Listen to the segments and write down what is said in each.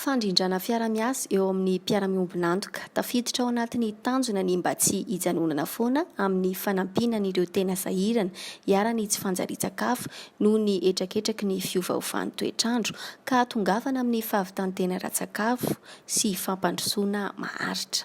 Fandrindrana fiara-miasa eo amin'ny mpiara-miombon'antoka. Tafiditra ao anatin'ny tanjona ny mba tsy hijanonana foana amin'ny fanampiana an'ireo tena sahirana iharan'ny tsy fanjarian-tsakafo noho ny hetraketraky ny fiovaovan'ny toetr'andro ka hahatongavana amin'ny fahavitan-tena ara-tsakafo sy fampandrosoana maharitra.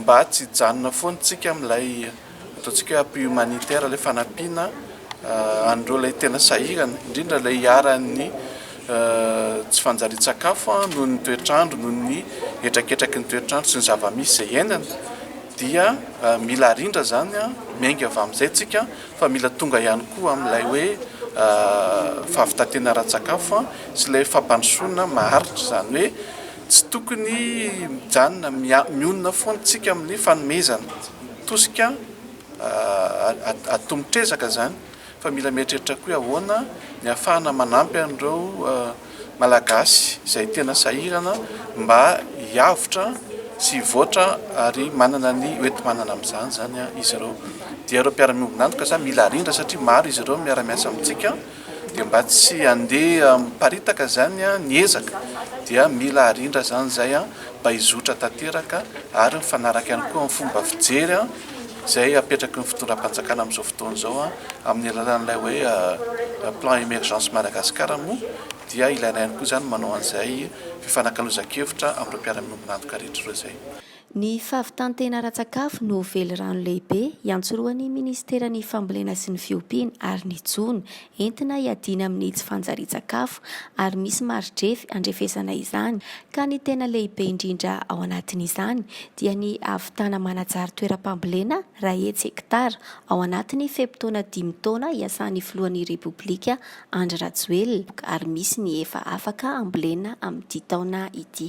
Mba tsy hijanona foana tsika amin'ilay ataontsika hoe appui humanitaire, ilay fanampiana an'ireo ilay tena sahirana, indrindra ilay iharan'ny tsy fanjarian-tsakafo noho ny toetr'andro, noho ny hetraketraky ny toetr'andro sy ny zava-misy izay iainana, dia mila arindra izany miainga avy amin'izay tsika fa mila tonga ihany koa amin'ilay hoe fahavitan-tena ara-tsakafo sy ilay fampandrosoana maharitra, izany hoe. Tsy tokony mijanona, mionona foana tsika amin'ny fanomezana, tosika atomotra ezaka zany, fa mila mieritreritra koa hoe ahoana ny ahafahana manampy an'ireo Malagasy izay tena sahirana mba hiavotra sy hivoatra ary manana ny hoenti-manana amin'izany zany izy ireo. Dia ireo mpiara-miombon'antoka zany mila arindra satria maro izy ireo miara-miasa amintsika. dia mba tsy handeha miparitaka izany ny ezaka dia mila arindra izany izay mba hizotra tanteraka ary mifanaraka ihany koa amin'ny fomba fijery izay apetraky ny fitondram-panjakana amin'izao fotoana izao amin'ny alalan'ilay hoe plan emergence Madagascar moa dia ilaina ihany koa izany manao an'izay fifanakalozan-kevitra amin'ireo mpiara-miombon'antoka rehetra ireo izay. Ny fahavitan-tena ara-tsakafo no velirano lehibe iantsorohan'ny Minisiteran'ny Fambolena sy ny Fiompiana ary ny jono entina hiadiana amin'ny tsy fanjarian-tsakafo ary misy mari-drefy andrefesana izany ka ny tena lehibe indrindra ao anatin'izany dia ny ahavitana manajary toeram-pambolena raha hetsy hektara ao anatin'ny fe-potoana dimy taona iasan'ny Filohan'ny Repoblika Andry Rajoelina ary misy ny efa afaka ambolena amin'ity taona ity.